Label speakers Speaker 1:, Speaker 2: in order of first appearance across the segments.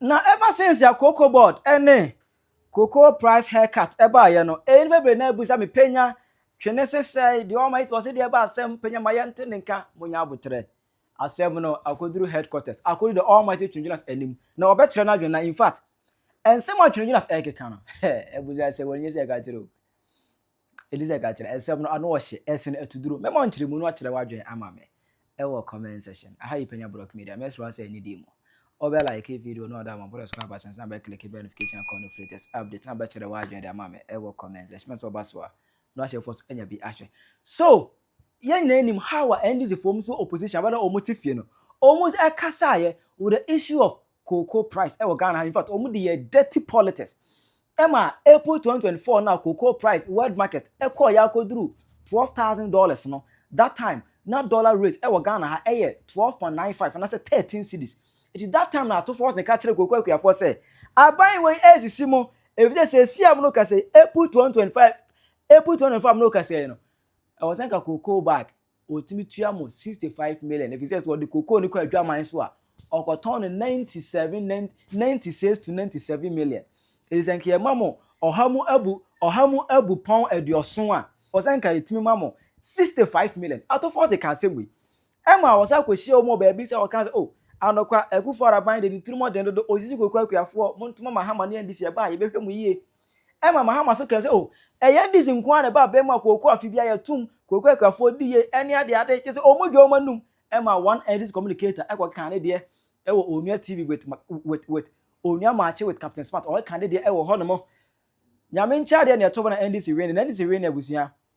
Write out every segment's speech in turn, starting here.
Speaker 1: Na ever since a cocoa board ne cocoa price haircut baeɛ no, ɛyi no bebree na abisa me panya twene sesɛe deɛ ɔma it wɔse deɛ ɛba asɛm panya ma yɛnte ne nka monya abotrɛ asɛm no akɔduru headquarters akɔduru the almighty twingyina's anim na ɔbɛkyerɛ no adwene na in fact ɛnsɛm a twingyina's ɛkeka no abusa sɛ wɔnyɛ sɛ ɛka kyerɛ o Elizabeth ka kyerɛ, nsɛm no ano ɔhye, ɛsen atuduro. Mɛma nkyerɛmu no akyerɛ w'adwene ama me ɛwɔ comment section. Aha yi Panya Brock Media, mɛsrɛ wo sɛ ɛne di mu. Ɔbɛ like video no a ɔda ama bɔdɔ so aba kyɛn sɛ abɛ click bɛ notification icon no for latest update na abɛkyerɛ w'adwene de ama me ɛwɔ comment section. Mɛsɛ ɔba so a na wahyɛ fɔ so anya bi ahwɛ. So yɛn nyinaa nim how a NDC foɔ mu so opposition abɛda wɔn ti fie no wɔn ɛkasaeɛ with the issue of cocoa price ɛwɔ Ghana ha infact ɔmo de yɛ dirty politics ɛma April twenty twenty four na cocoa price world market ɛkɔɔ yɛ akɔduru twelve thousand dollars no that time na dollar rate ɛwɔ Ghana ha ɛyɛ twelve point nine five anasɛ thirteen cedis eti that time na atofoɔ se ka kyerɛ cocoa akuafoɔ sɛ aban wei ɛresisi mo efisɛ seesia mo no ka sɛ April twenty twenty five April twenty twenty four mo no ka sɛ no ɛwɔ sɛ nka cocoa bag Wɔtumi tua mo sixty five million efi sɛ sɛ wɔde cocoa no kɔ adwaman so a ɔkɔtɔn no ninety seven ninety six to ninety seven million efi sɛ nka yɛma mo ɔha mu abu ɔha mu abu pɔn aduɔson a wɔsɛ nka yɛtumi ma mo sixty five million atɔfoɔ se ka asɛm wei ɛma wɔsɛ akɔhyia wɔn wɔ baabi sɛ wɔka sɛ o oh, anɔkwa akufo araban de ne tirimɔden dodo osisi koko akuafoɔ mo ntoma ma hama ne ndc ɛba a yɛbɛhwɛ mo yie ɛma Mahama so kae sɛ, Oh, ɛyɛ Indies nko ara na ɛba abɛn mu a kooko afe biara yɛtum kooko akuafoɔ diye ɛne adeade, kyerɛ sɛ wɔn dwa wɔn anum, ɛma one Indies communicator kɔ kaa ne deɛ wɔ Onua TV with, with, with, Onua Maakye with Captain Smart, wɔn ka ne deɛ wɔ hɔ nom. Nyame nkyɛadeɛ na ɛtɔ bɛ na Indies win, na Indies win abusua.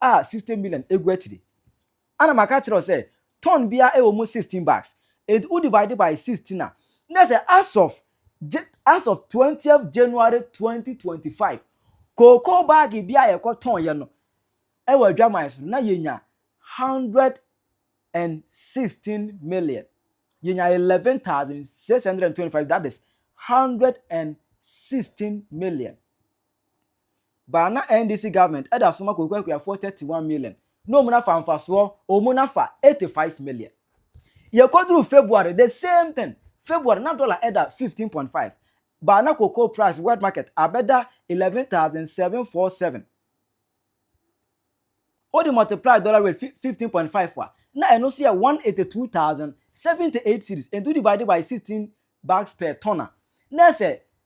Speaker 1: a sixty million egu akyiri a na maka akyerɛ wo sɛ ton biara ɛwɔ mu sixteen bags enti wo divide by sixteen a na sɛ as of as of twentieth January twenty twenty five cocoa bag bi a yɛkɔ tɔn yɛ no ɛwɔ adwaman so no na yɛnya hundred and sixteen million yɛnya eleven thousand six hundred and twenty five that is hundred and sixteen million. But na NDC government ɛda so ma Koku Akuafoɔ 31 million na ɔmu nafa mfasoɔ ɔmu nafa 85 million. Yɛkɔduru February the same thing, February na dollar ɛda 15.5 but na cocoa price world market abɛda 11,747. Wode multiply dollar rate 15.5 a na ɛno so yɛ 182,078 cedis and to divide by 16 bags per ton a na ɛsɛ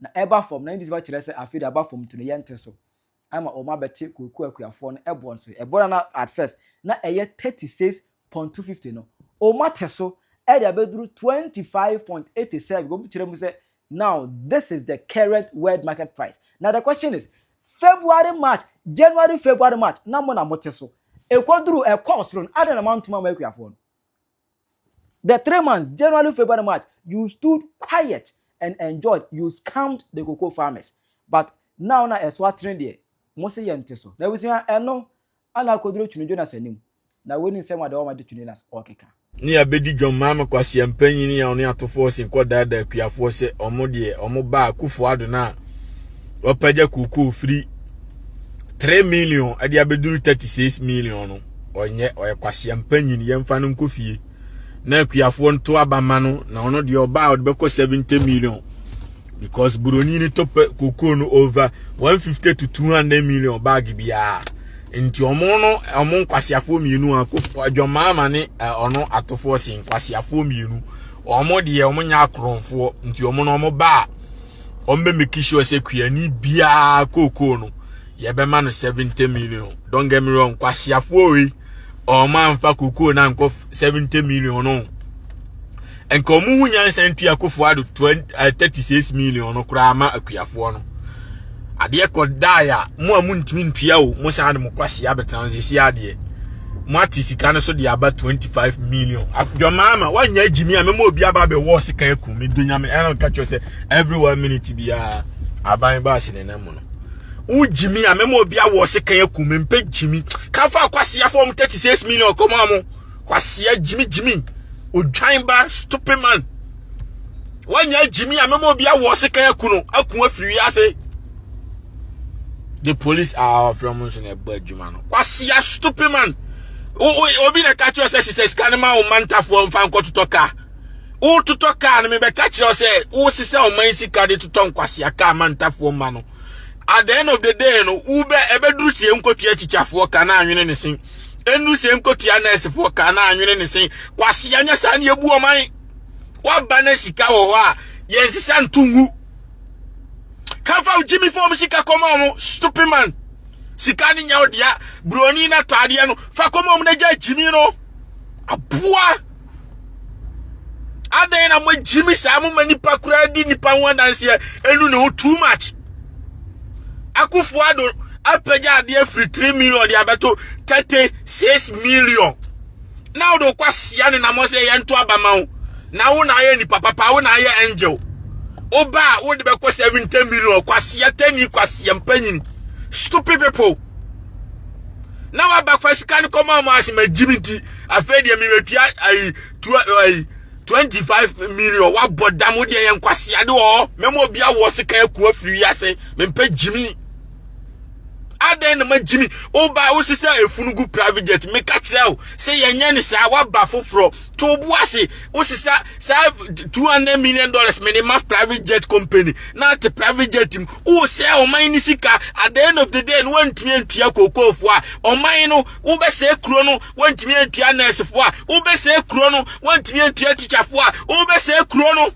Speaker 1: Na ɛba fam, na English ba kyerɛ sɛ afei de aba fam nti no yɛnte so ama wɔn abɛte kooko akuafoɔ no ɛboɔ no so. Ɛboɔ no a na at first na ɛyɛ thirty six point two fifty no, wɔn ate so ɛde abɛduru twenty five point eighty seven. Wɔn kyerɛ mu sɛ now this is the current world market price. Na the question is February March January February March na mo na mote so ɛkɔduru ɛkɔɔ soro no adɛn na moantom amma akuafoɔ no? The three months, January, February, March, you stood quiet and enjoyed, you scammed the cocoa farmers. But now na ɛso atene deɛ, mo se yɛn te so. Na abusua ɛno, ana akoduro twene Jonas anim. Na wei ni nsɛm a deɛ ɔma de twene Jonas ɔkeka. Ne yɛabɛdi dwam
Speaker 2: maame kwasia mpanyini a ɔne atofoɔ sen kɔdaadaa akuafoɔ sɛ ɔmo deɛ ɔmo baa Akufo Addo no a wapagya kookoo firi 3 million ɛde abɛduru 36 million no. ɔnyɛ ɔyɛ kwasia mpanyin yɛmfa no nkɔ fie na akuafoɔ nto aba ma no na ɔno deɛ ɔbaa a ɔde bɛkɔ seventy million because buroni no tɔ pɛ kokoo no over one fifty to two hundred million bag biara nti ɔmo no ɔmo nkwasiafoɔ mmienu akofo adwamaa ma ne ɔno atofoɔ si nkwasiafoɔ mmienu ɔmo deɛ ɔmo nyɛ akoronfoɔ nti ɔmo no ɔmo baa. wɔn bɛ make sure sɛ kuani biara kookoo no yɛbɛma no 70 million don't get me wrong kwasiafoɔ yi wɔn amfa kookoo na nkɔ 70 million no nka wɔn ho nyansa ntua kofoɔ ado 36 eh, million no koraa ama akuafoɔ no adeɛ kɔ dae a mo a montumi ntua o mo san de mo kwasi abɛtena sisi adeɛ mo ate sika no so de aba 25 million dwamaa ma woanyɛ agyimi a mɛma obi aba bɛwɔ sika aku me do nyame ɛna ka kyerɛ sɛ every one minute biara aban ba ase ne nam no wogyimi a mɛma obi awɔ sika aku me mpɛ gyimi ka fa kwasi afɔ mo 36 million kɔma mo kwasi agyimi gyimi odwan ba stupid man wɔnyɛ agyimi a mɛma obi awɔ sekan aku no aku afiri ase the police are offering mo nso na ɛbɔ adwuma no kwasia stupid man obi na ka kyerɛ sɛ sisɛ sika no ma wo mantafoɔ mfa nkɔtotɔ kaa wototɔ kaa no mebɛka kyerɛ wo sɛ wosisɛ ɔman sika de totɔ nkwasia kaa mantafoɔ ma no at the end of the day no wobɛ ɛbɛduru sie nkɔtua tikyafoɔ ka na anwene ne sen ɛnuru sie nkɔtua nɛɛsefoɔ ka na anwene ne sen kwasia nyɛ saa ne yɛbu ɔman waba na sika wɔ hɔ a yɛnsesa nto ngu kafa gyimi fam sika kɔma ɔmo stupid man sika ne nyɛ ɔdea broni na tɔ adeɛ no fa kɔma ɔmo na gya gyimi no aboa adɛn na mo gyimi saa mo ma nipa koraa di nipa ho adanseɛ ɛnu ne ho too much akufo ado apagya adeɛ firi three million de abɛto thirty six million. na wode wokɔ asia ne namɔ sɛ yɛnto aba ma wo na wo na ayɛ nipa papa wo na ayɛ angel woba a wode bɛkɔ 70 million kwasia tani kwasia mpanyin stupid people na waba fa sika no kɔma ɔmo ase magyim nti afei deɛ mewatua ayi tua ayi 25 million wabɔ dam wo deɛ yɛ nkwasia de wɔ mɛma obi awoɔ sika akua firi wiase mempɛ gyimi adɛn na magyimi woba wosesa efunu gu private jet meka kyerɛ wo sɛ yɛnyɛ ne saa woaba foforɔ to wo bo ase wosesa saa 200 million dollars mene ma private jet company na te private jet mu wosɛ ɔman ne sika at the end of the day no woantumi antua kookoofoɔ a ɔman no wobɛsɛe kuro no woantumi antua nɛɛsefoɔ a wobɛsɛe kuro no woantumi antua tikyafoɔ a wobɛsɛe kuro no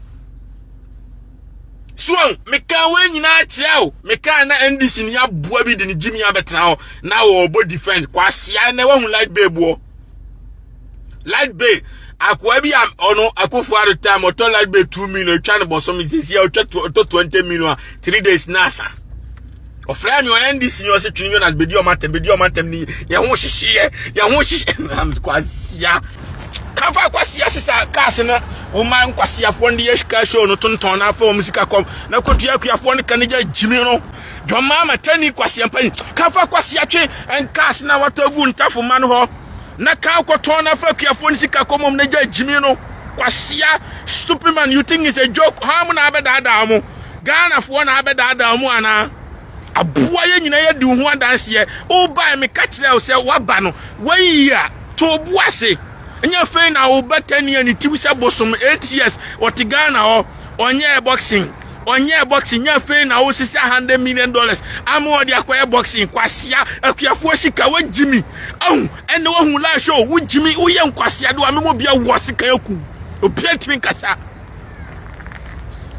Speaker 2: so ahu mekaa wɔn nyinaa kyerɛ o mekaa na ndc ni aboa bi de ne gyimi abɛtena hɔ na wɔrebɔ defend kwasia na wahu light bay boɔ light bay akoa bi a ɔno akofo ado time ɔtɔ light bay two million twa ne bɔsɔm sisi a ɔtwa ɔtɔ twenty million a three days na asa. ɔfrɛ me ɔyɛ ndc ni ɔsɛ twin jonas bedi ɔmo atɛm bedi ɔmo atɛm ni yɛn ho hyehyeɛ yɛn ho hyehyeɛ kwasia kafa kwasia sisa kaase na wɔn a nkwasiafoɔ de yɛ kaa show no tontɔn na afa wɔn sika kɔm na kotua akuafoɔ no kan gya gyimi no dɔm maa ma tɛni kwasia mpanyin kafa kwasia twe nkaase na watɔ gu ntafo ma no hɔ na kaa kɔtɔn na afa akuafoɔ no sika kɔm wɔn na gya gyimi no kwasia stupid man you think it's a joke hɔn mo na abɛdaadaa mo. Ghana foɔ na abɛdaadaa mu anaa? Aboa yɛ nyina yɛ di ho adanseɛ. Wobae meka kyerɛ wo sɛ waba no wayi a to bo ase. Nyɛ fei na wobɛtɛni ani tiw sɛ bosom 8 years ɔte Ghana hɔ ɔnyɛɛ boxing ɔnyɛɛ boxing nyɛ fei na wosisi 100 million dollars ama ɔde akɔyɛ boxing kwasea akuafoɔ sika wagyimi ahu ɛnna wahu lash o wogyimi woyɛ nkwasea do a memo bia wɔ sika aku obi atumi nkasa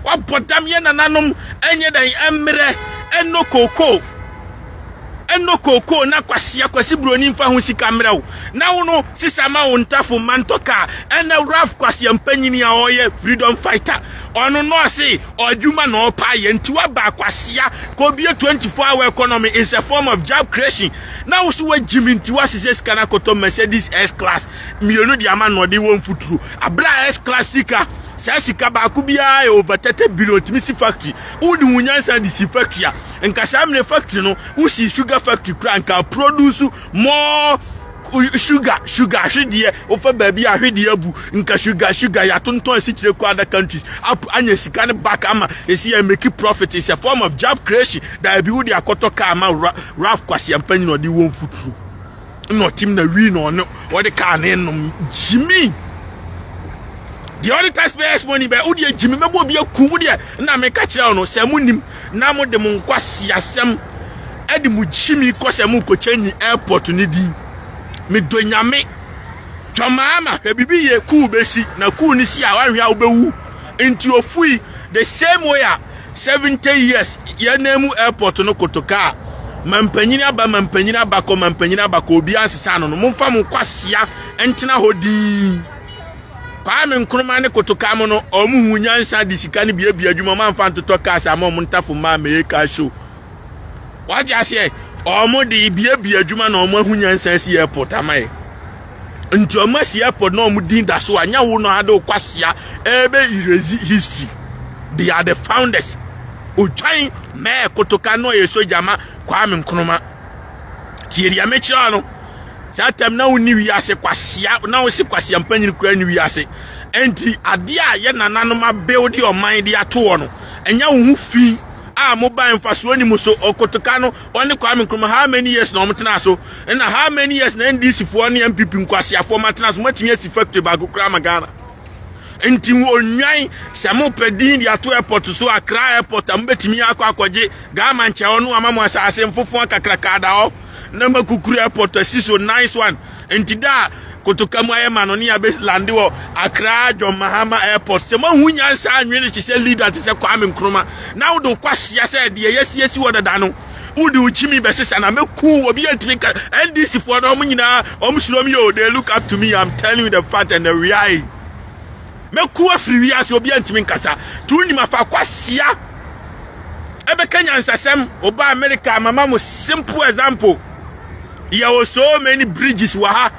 Speaker 2: Wabɔ dam yɛ nananom ɛnyɛ dɛn ɛmmerɛ ɛnɔ kookoo ɛnɔ kookoo na kwasi akwasi buroni nfa ho sika mmerɛ wo na wo no sisa ma wo ntafo ma ntɔ kaa ɛnɛ Ralph kwasi ampanyini a ɔyɛ freedom fighter ɔno no ɔse ɔadwuma na ɔpa yɛ nti waba akwasia kɔbie 24 hour economy is a form of job creation na wo so wagyimi nti wasesɛ sika no akɔtɔ Mercedes S class mmienu de ama na ɔde wɔ mfuturo abere a S class sika saa sika baako biara yɛ over thirty billion tumi si factory wode wo nyansa de si factory a nka saa mmerɛ factory no wosi sugar factory kura nka produce more sugar sugar ahwedeɛ wofa baabi a ahwedeɛ abu nka sugar sugar yɛatontɔn asikyerɛ kɔ other countries up anya sika no back ama ɛsi yɛ make profit is a form of job creation daabi wode akɔtɔ kaa ma raf kwaseampa nyina ɔde wɔ mfuturo na ɔtim na wii na ɔne ɔde kaa ne nom gyimi deɛ ɔde taxpayers money bɛ wo deɛ gyimi mɛbɔ obi aku wo deɛ na meka kyerɛ wo no sɛ mo nim na mo de mo nkwasi asɛm ɛde mo gyimi kɔ sɛ mo kɔkyɛ nyi airport ne din me dɔ nyame twamaama hwɛ bibi yɛ kuu bɛsi na kuu ne si a wahwɛ a wobɛwu nti ofui the same way a 70 years yɛn nan mu airport no koto kaa mampanyin aba mampanyin abakɔ mampanyin abakɔ obi ansesa ano no momfa mo kwasia ntena hɔ din Kwame Nkrumah ne koto kaa mo no ɔmo hu nyansa de sika no biabia adwuma ɔmo amfa ntotɔ cars ama ɔmo ntafo mmaa mɛyɛ car show wagye aseɛ ɔmo de biabia adwuma na ɔmo ahu nyansa si airport ama yɛ nti ɔmo asi airport na ɔmo din da so a nyɛ wo no ade okwasia ɛbɛ erase history they are the founders otwan mɛɛ kotoka na ɔyɛ soja ma kwame nkrumah tie deɛ mekyerɛ no saa tam na wonni wiase kwasia na wose kwasia mpanyin kura ne wiase nti adeɛ a yɛ nananom abeode ɔman de atoɔ no ɛnyɛ wo ho fi a mo ban mfasoɔ ni mu so ɔkotoka no ɔne kwame nkrumah how many years na ɔmo tena so Ɛna how many years na NDC foɔ ne MPP nkwasiafoɔ ma tena so matumi asi factory baako koraa ma Ghana nti ɔnwan sɛ mopɛ din de ato airport so Accra airport a mobɛtumi akɔ akɔgye Ghana nkyɛ hɔ no ama mo asase mfofoɔ kakraka da hɔ na makukuru airport asi so nice one nti da a kotoka mu ayɛ ma no ne abɛlande wɔ Accra John Mahama airport sɛ moahu nyansa anwene te sɛ leader te sɛ Kwame Nkrumah na wode kwasea sɛ deɛ yɛasiesie wɔ dada no wode wo kyimi bɛsesa na mɛku wo obi antumi ka ndc foɔ no ɔmo nyinaa ɔmo suro m yo they look up to me I'm telling you the fact and the reality mɛku afiri wiase obi antumi nkasa tu nim afa kwasia ɛbɛka nyansasɛm ɔba America mama mo simple example yɛwɔ so many bridges wɔ ha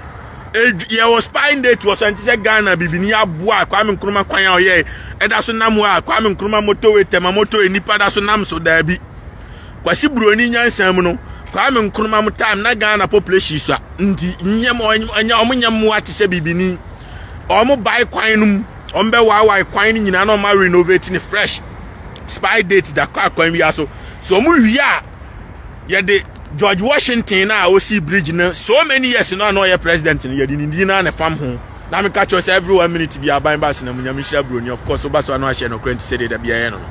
Speaker 2: yɛwɔ spine date wɔ so ɛnte sɛ ghana bibini aboa a kwame nkrumah kwan a ɔyɛe ɛda so nam hɔ a kwame nkrumah motorway tɛma motorway nipa da so nam so daabi Kwasi Buroni nyansa mu no, Kwame Nkrumah mo time na Ghana population sua nti nyɛ mo ɔnyɛ ɔmo nyɛ mmoa te sɛ bibini. Ɔmo bae kwan no mu, ɔmo bɛ waawae kwan no nyinaa na ɔmo renovate ne fresh. Spy date da kɔ akwan wia so. So ɔmo wie a yɛde George Washington na osi bridge no so many years no na ɔyɛ president no yɛde ne din na ne fam ho. Na meka kyerɛ sɛ every one minute bi aban ba asena mu nyame hyira Buroni of course oba so ano ahyɛ no kora nti sɛ de da bi ayɛ no no.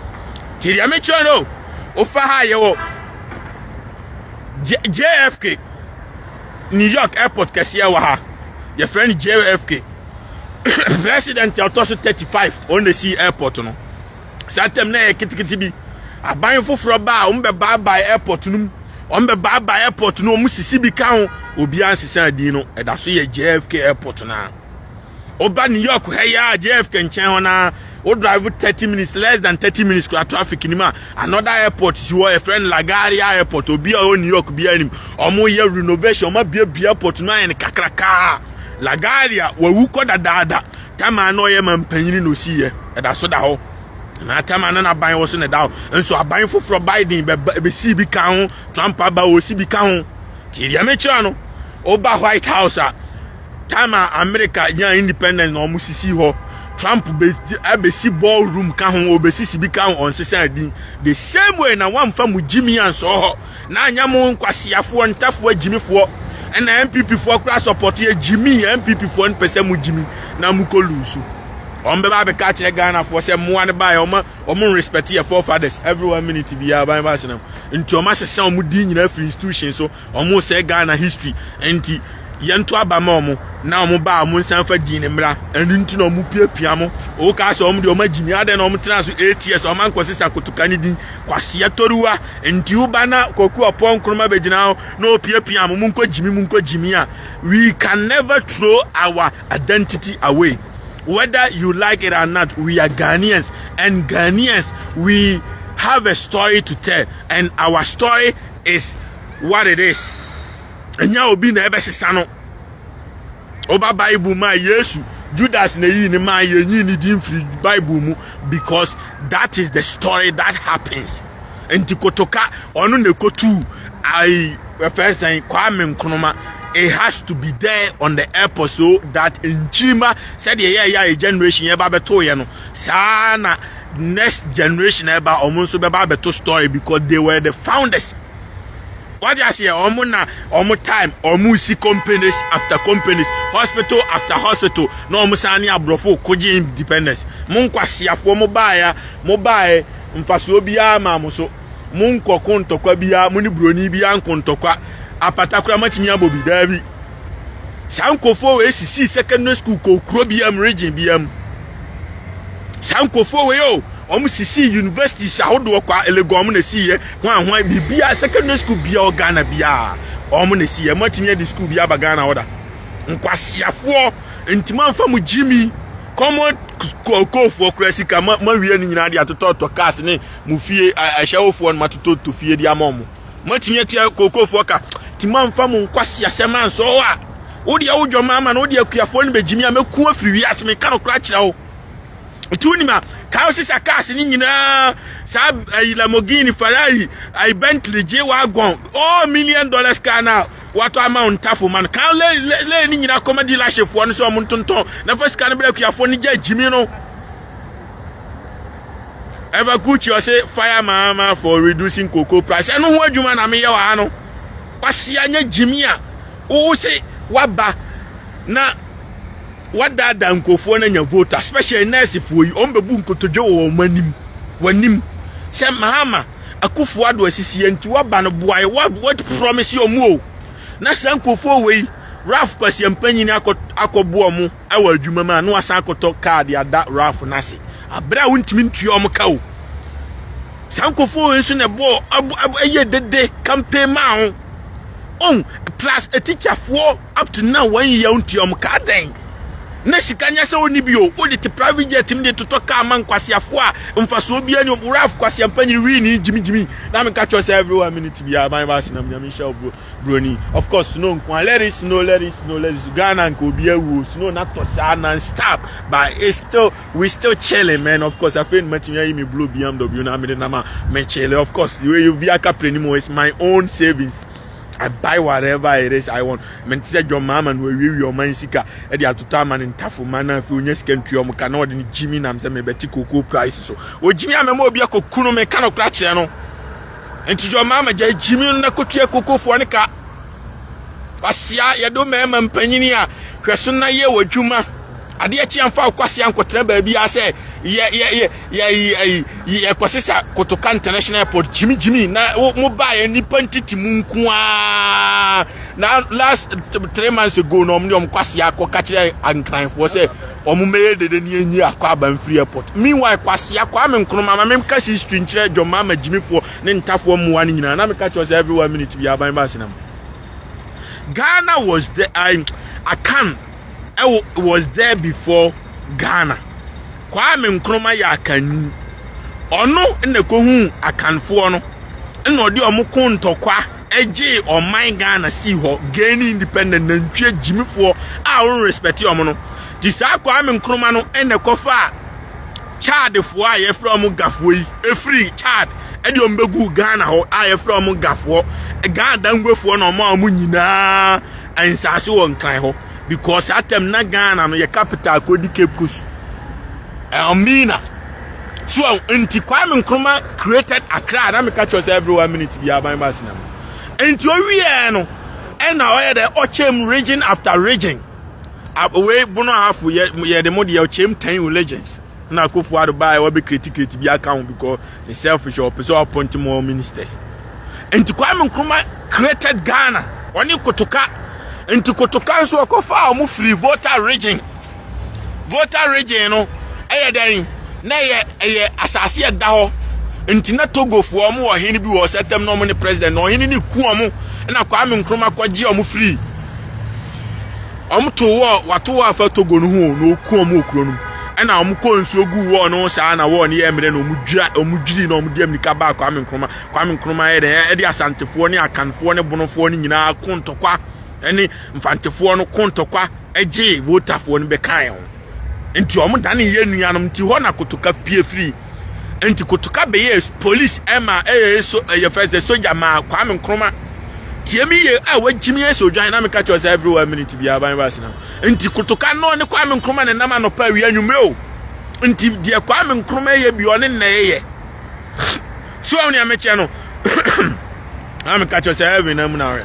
Speaker 2: Tie deɛ mekyerɛ no o. Wofa ha a yɛwɔ JFK New York airport kɛseɛ wɔ ha. Yɛfrɛ no JFK. President a ɔtɔ so 35 ɔno na ɛsii airport no. Saa tam na ɛyɛ ketekete bi. Aban foforɔ ba a wɔn bɛbaabae airport no mu. Wɔn bɛbaabae airport no wɔn sisi bi ka ho. Obiara nsesa din no. Ɛda so yɛ JFK airport no ara. Woba New York ha yi a JFK nkyɛn hɔ na wo drive 30 minutes less than 30 minutes kura traffic nim a another airport si hɔ yɛfrɛ no LaGuardia airport obi a ɔwɔ New York biara nim wɔyɛ renovation wɔabiabia airport no ayɛ no kakrakaa LaGuardia wawu kɔ dadaada tama na ɔyɛ ma mpanyini na osiiɛ ɛda so da hɔ na tama na n'aban wɔ so na ɛda hɔ nso aban foforɔ Biden bɛsii bi ka ho Trump aba wɔsi bi ka ho nti deɛ mekyerɛ no woba White House a time a america nya independent na wɔn sisi hɔ trump abesi ball room ka ho ɔbesi sibi ka ho ɔnsesa din the same way na wɔnfa mu gyimi ansɔ hɔ na anya mu nkwaseafoɔ ntafoɔ gyimifoɔ ɛna npp foɔ kora support yɛ gyimi npp foɔ no pɛsɛ mu gyimi na mu kɔ lusu wɔn bɛba abɛka akyerɛ ghana foɔ sɛ mmoa no baeɛ wɔn wɔn respect yɛ forefathers every one minute biara ban ba asenam nti wɔn asesa wɔn din nyinaa firi institution so Ɔmo sɛɛ Ghana history nti yɛ nto aba ma ɔmo na ɔmo ba a ɔmo nsan fa din no mmra ɛno nti na ɔmo piapia mo ɔwɔ kaa sɛ ɔmo deɛ ɔmo agyimi adɛn na ɔmo tena so eight years ɔmo ankɔ sesa akotoka ne din kwaseɛ toruwa nti wo ba na kwaku ɔpɔ nkroma bɛgyina hɔ na ɔpiapia mo mo nkɔ gyimi mo nkɔ gyimi a we can never throw our identity away whether you like it or not we are Ghanaians and Ghanaians we have a story to tell and our story is what it is ɛnyɛ obi na ɛbɛsesa no ɔba bible mu a yesu judas na eyi ne maa yɛnyi ne din firi bible mu because that is the story that happens nti kotoka ɔno na ekotu ayi ɛfɛ sɛn kwame nkrumah it has to be there on the airport so that nkyirima sɛdeɛ yɛyɛ a yɛ generation yɛba bɛto yɛ no saa na next generation a ɛba wɔn nso bɛba abɛto story because they were the founders wagye aseɛ wɔn na wɔn time wɔn si companies after companies hospital after hospital na wɔn san ne aborɔfo kogye independence mo nkwasiafoɔ mo baeɛ mo baeɛ mfasoɔ biara maa mo so mo nkɔko ntɔkwa biara mo ne buroni biara nko ntɔkwa apatakora matumi abɔ bi daabi saa nkurɔfoɔ wɔ esisi secondary school kɔ kuro biara mu region biara mu. saa nkurɔfoɔ wei o wɔn sisi universities ahodoɔ kwa elegon wɔn na esi yɛ hwan hwan biribiara secondary school bia wɔ ghana biara wɔn na esi yɛ mo atumi adi school bi aba ghana ɔda nkwasiafoɔ ntoma nfa mo gyimi kɔmɔ kɔkɔfoɔ kura sika ma ma wie no nyinaa de atotɔtɔ cars ne mo fie ahyɛwofoɔ no ma totɔtɔ fie de ama wɔn. moatumi atua kookofoɔ ka nti moamfa mo nkwaseasɛm ansɔ hɔ a wodeɛ wo dwɔma ama no wodeɛ akuafoɔ no bɛgyimi a mɛku afiri wiase meka no kora kyerɛ wo nti wonim a kaa wo sisa cars no nyinaa saa ayi lamogini ferrari ayi bentley gye wagon all million dollars car no a watɔ ama wo ntafo ma no kaa lɛyi no nyinaa kɔma dealershipfoɔ no sɛ ɔmo ntontɔn na fa sika no berɛ akuafoɔ no gya gyimi no Eva Kuchi ɔse fire maama for reducing cocoa price. Ɛno ho adwuma na meyɛ wɔ ha no. Kwasia nyɛ gyimi a wose waba na wadaadaa nkurɔfoɔ no anya vote especially nursefoɔ yi wɔn bɛbu nkotodwe wɔ wɔn anim wɔanim sɛ maama akufo ado asisiɛ nti waba no boae what promise wɔn o na saa nkurɔfoɔ wei Ralph Kwasia mpanyin akɔ akɔboɔ wɔn wɔ adwuma mu a na wasan akɔtɔ kaa de ada Ralph no ase abere a wontumi ntua wɔn ka o saa nkɔfoɔ wei nso na ɛbɔɔ ɛyɛ dede campaign maa ho on plus a teacher foɔ up to now wɔn yɛ ntua wɔn ka adɛn na sika nyɛ sɛ wɔn ni bi o wɔde te private jet mu de totɔ kaa ma nkwaseafoɔ a mfasoɔ bi ɛni wɔn Ralph kwaseampa nyiri wii ni gyimigyimi na mi ka kyerɛ sɛ everyone minute bi a ban baasi na mi nyame nhyɛ ɔburo. broni of course snow nkoa let it snow let it snow let it snow ghana nka obi awuo snow na tɔ saa non stop but it's still we still chilling man of course afei nima tumi ayi mi blue bmw na amene nama me chilling of course wei obi aka pere ni mu it's my own savings. I buy whatever it is I want. Men ti sɛ John Mahama no awiewie ɔman sika ɛde atotɔ ama ne ntafo ma na afei onya sika ntua ɔmo ka na ɔde ne gyimi nam sɛ mebɛte koko price so. Ogyimi a mɛma obi akɔ kunu me ka no kora kyerɛ no. Nti yɛ ɔmaa magya gyimi no na kotua kokofoɔ no ka. Kwasia, yɛde wo mmarima mpanyin a hwɛ so na yɛ wɔ dwuma. Adeɛ kye amfa wo kwasia nkɔtena baabiara sɛ yɛ yɛ yɛ yɛ yɛ yɛ kɔsesa Kotoka International Airport gyimi gyimi na mo baa yɛ nipa ntiti mu nko ara na last three months ago na wɔn de wɔn kwasia kɔ kakyerɛ ankranfoɔ sɛ Wɔn mɛyɛ dede ne yɛnwie akwaaba mfiri airport. Meanwhile, Kwasea, Kwame Nkrumah, ma menka history nkyerɛ John Mahama gyimifoɔ ne ntafoɔ mmoa no nyinaa. Na meka kyerɛ wɔn sɛ every one minute biara aban ba Asena mu. Ghana was there, I, Akan ɛwɔ, was there before Ghana. Kwame Nkrumah yɛ Akanni. Ɔno na ɛkɔhuu Akanfoɔ no, na ɔde wɔn ko ntɔkwa. gyee ɔman Ghana sii hɔ gaining independent nantwie gyimifoɔ a wɔn respect wɔn no ti saa Kwame Nkrumah no ɛna kɔfa Chadfoɔ a yɛfrɛ wɔn gafoɔ yi ɛfiri Chad ɛde wɔn bɛgu Ghana hɔ a yɛfrɛ wɔn gafoɔ Ghana danguefoɔ na wɔn a wɔn nyinaa nsaase wɔ nkran hɔ because atam na Ghana no yɛ capital kɔdi Cape Coast Elmina So ɔho nti Kwame Nkrumah created Accra na meka kyerɛ sɛ every one minute bi aban ba asina mu. Nti owiee no ɛna ɔyɛ dɛ ɔkyɛm region after region. Wei bono ahafo yɛ de mo deɛ ɔkyɛm ten religions. Na Akufo Addo baa ɛwɔ bɛ create create bi aka ho because ne selfish ɔpɛ sɛ ɔappoint more ministers. Nti Kwame Nkrumah created Ghana ɔne Kotoka. Nti Kotoka nso ɔkɔfaa ɔmo free voter region. Volta Region no yɛ dɛn? Na ɛyɛ ɛyɛ asase a ɛda hɔ nti na Togofoɔ wɔn wɔ ɔhene bi wɔ hɔ sɛtɛm na wɔn ne president na ɔhene no ku wɔn na Kwame Nkrumah kɔgye wɔn firi wɔn to wɔ wato wɔ afa Togo no ho na ɔku wɔn wɔ kuro no mu ɛna wɔn kɔ nsuo gu wɔn no saa na wɔn yɛ mmerɛ na wɔn dwira wɔn dwiri na wɔn de amika baa Kwame Nkrumah Kwame Nkrumah yɛ dɛ ɛde asantefoɔ ne akanfoɔ ne bonofoɔ no nyinaa ko ntɔkwa. ne mfantefoɔ no ko ntɔkwa gyee Voltafoɔ no bɛkaeɛ ho. Nti wɔn dane yɛ nuanom nti hɔ na Kotoka pie firi. Nti Kotoka bɛyɛ polis ma ɛyɛ so ɛyɛ fɛ sɛ soja ma Kwame Nkrumah. Tie mi yie a wagyimi yɛ sɛ odwan na meka kyerɛ sɛ every one minute bi aban baasi na. Nti Kotoka no ne Kwame Nkrumah ne nam anɔpa awia nwumere o. Nti deɛ Kwame Nkrumah yɛ bi ɔne na ɛyɛ. So ɔne amekyɛ no. Na meka kyerɛ sɛ every na mu na awɛ.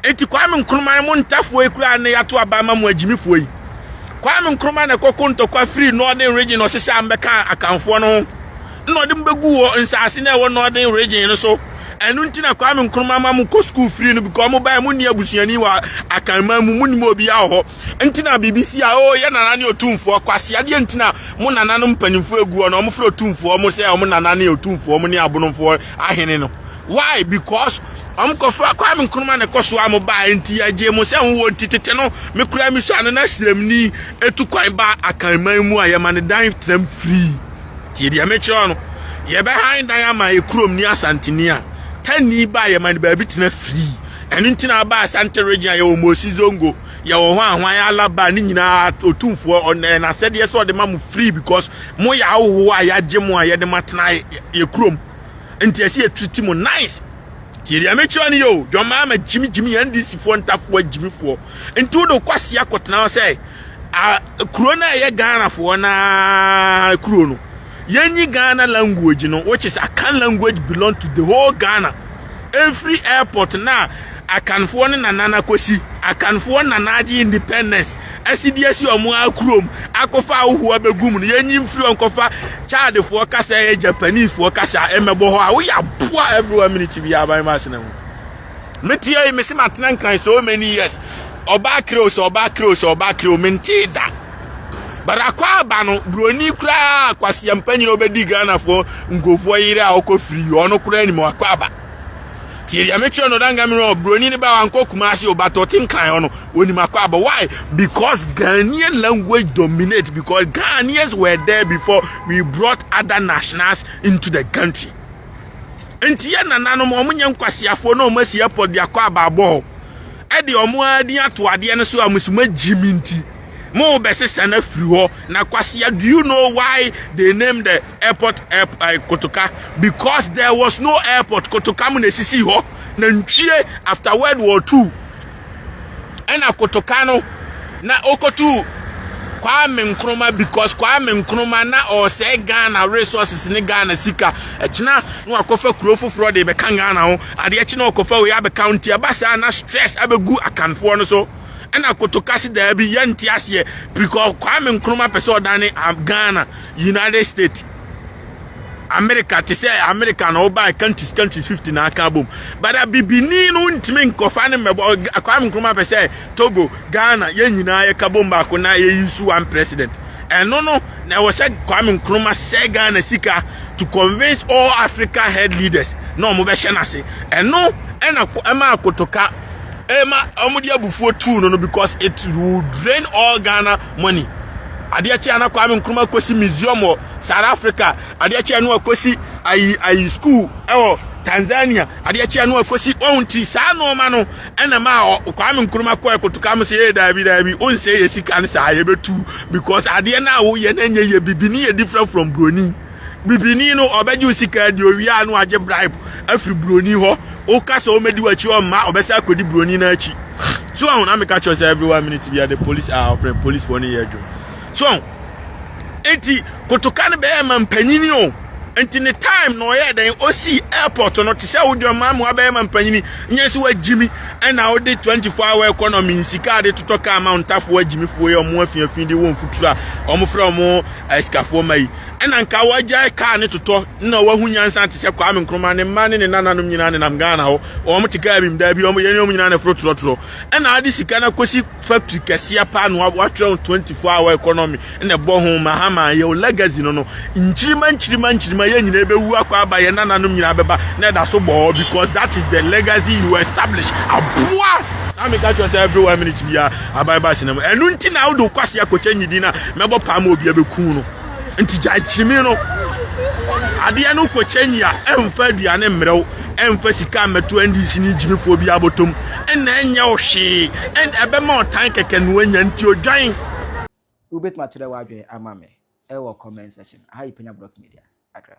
Speaker 2: Enti Kwame Nkrumah mo ntafoɔ yi koraa ne yato aba ama mo agyimifoɔ yi. Kwame Nkrumah na ɛkɔko ntɔkwa firi Northern Region ɔsese a mbɛka akanfoɔ no ho na ɔde mo bɛgu wɔ nsaase na ɛwɔ Northern Region no so. Ɛno nti na Kwame Nkrumah ma mo kɔ sukuu firi no because mo bae mo nni abusuani wɔ akanman mu mo nim obi wɔ hɔ. Nti na biribi si a oo yɛ nana ne otumfoɔ kwasi adeɛ nti na mo nana no mpanyinfoɔ agu hɔ na wɔn frɛ otumfoɔ mo sɛ wɔn nana ne otumfoɔ mo ne abonomfoɔ ahene no. why because ɔmo kɔfa kwame nkrumah na ɛkɔ so a mo baa nti yɛgye mo sɛ ho wɔ nti tete no me kura mi sua no na sremni etu kwan ba akanman mu a yɛma ne dan tram free tie deɛ mekyerɛ no yɛbɛhan dan ama ekurom ni asanteni a tanni ba a yɛma ne baabi tena free ɛno nti na aba asante region a yɛwɔ mosi zongo yɛwɔ ho ahwan alaba ne nyinaa otumfoɔ ɔnɛ n'asɛdeɛ sɛ ɔde ma mo free because mo yɛ ahohoɔ a yɛagye mo a yɛde mo atena yɛ kurom nti ɛsɛ yɛ treat mu nice tie deɛ mekyerɛ no yɛ o john mahama gyimigyimi yɛn ndc foɔ ntafoɔ agyimifoɔ nti wode kɔ aseɛ akɔtena hɔ sɛ kuro no a ɛyɛ ghanafoɔ na kuro no yɛnyi ghana language no which is akan language belong to the whole ghana ɛmfiri airport na akanfoɔ ne nanana kɔsi akanfoɔ nana agye independence asi de asi ɔmo ara kurom akɔfa ahohoa bɛgu mu no yɛnyi mfiri hɔ nkɔfa Chadfoɔ kasa ɛyɛ Japanifoɔ kasa ɛmɛbɔ hɔ a woyɛ aboa every one minute biara ban ma asena mu meteɛ yi mese matena nkran so many years ɔbaa kreo sɛ ɔbaa kreo sɛ ɔbaa kreo mentee da but akɔ aba no buroni koraa kwaseɛ mpanyina wobɛdi Ghanafoɔ nkurɔfoɔ yere a ɔkɔ firi ɔno koraa nim akɔ aba tie deɛ mekyerɛ no danga mmerɛ ɔ buroni no ba wankɔ kumase o but ɔte nkran hɔ no ɔnim akɔ abɔ why because ghanaian language dominate because ghanaians were there before we brought other nationals into the country nti yɛ nananom wɔn nyɛ nkwasiafoɔ na wɔn asi airport de akɔ aba abɔ hɔ ɛde wɔn ara din ato adeɛ no so a wɔn so wɔn agyimi nti Mo bɛ sesa na firi hɔ na kwasia do you know why they name the airport air, uh, kotoka because there was no airport kotoka mo na esisi hɔ na ntwie after world war two ɛna kotoka no na okotu kwame nkrumah because kwame nkrumah na ɔsɛɛ ghana resources ne ghana sika ɛkyena na wakɔfa kuro foforɔ de bɛka ghana ho adeɛ kyena ɔkɔfa wei abɛka nti ɛba saa na stress abɛgu akanfoɔ no so ɛna kotoka se daabi yɛnte aseɛ prikɔ kwame nkroma pɛ sɛ ɔdane ghana united states america te sɛ america na ɔbaa countries countries 50 na aka bom bada bibini no ntumi nkɔfa ne mmɛbɔ kwame nkroma pɛ sɛ togo ghana yɛn nyinaa yɛka bom baako na yɛyi so one president ɛno no na ɛwɔ sɛ kwame nkroma sɛ ghana sika to convince all africa head leaders na wɔn bɛhyɛ n'ase ɛno ɛna ɛma akotoka Ɛma wɔn de abufuo tuu no no because it will drain all Ghana money. Adeɛ kye a na Kwame Nkrumah kɔsi museum wɔ South Africa. Adeɛ kye a na wakɔsi ayi ayi school ɛwɔ Tanzania. Adeɛ kye a na wakɔsi wɔn ti saa nneɛma no ɛna ma Kwame Nkrumah kɔɛ kotoka mo sɛ ee daabi daabi o nsɛ yɛ sika no saa yɛbɛtu because adeɛ no a woyɛ no ɛnyɛ yɛ bibini yɛ different from broni. Bibini no ɔbɛgye wo sika adi owie a no agye bribe afiri buroni hɔ woka sɛ ɔmɛdi w'akyi ɔmma ɔbɛsɛ akɔdi buroni no akyi so ahu na meka kyerɛ sɛ every one minute bia the police a ɔfrɛ police foɔ no yɛ adwuma so ahu enti kotoka no bɛyɛ ma mpanyini o enti ne time na ɔyɛ dɛn ɔsi airport no te sɛ wodwa ma mu abɛyɛ ma mpanyini nyɛ sɛ wagyimi ɛna wode 24 hour economy nsika de totɔ kaa ma ntafoɔ agyimifoɔ yi ɔmo afiafi de wɔn futuro a ɔmo frɛ ɔmo asikafoɔ ma yi Ɛna nka wagyae car ne totɔ na wahu nyansa te sɛ Kwame Nkrumah ne mma ne ne nananom nyinaa nenam Ghana hɔ wɔn te car bi mu daa bi wɔn yɛne wɔn nyinaa na ɛforo torɔtorɔ ɛna ade sika na kɔsi factory kɛseɛ paa na watwerɛ ho 24 hour economy na ɛbɔ ho mahama yɛ o legacy no no nkyirima nkyirima nkyirima yɛ nyinaa ɛbɛwu akɔ aba yɛ nananom nyinaa bɛba na ɛda so bɔɔ because that is the legacy you establish aboa na meka kyerɛ sɛ every one minute biara aban ba ahyɛnam ɛno nti na wode wo kwase akɔkyɛ nyidin na Mɛbɔ paa ma obiara bɛku no. Nti gyae kyimi no. Adeɛ no kɔ kyɛnyi a, ɛmfa aduane mmerɛ wo, ɛmfa sika mmɛto NDC ne gyimifoɔ bi abɔtɔm, ɛna ɛnyɛ wo hwee, ɛna ɛbɛma ɔtan kɛkɛ na wanya, nti odwan.
Speaker 1: Wobɛtumi akyerɛ w'adwene ama me wɔ comment section. Aha yɛ Penya Block Media, Accra.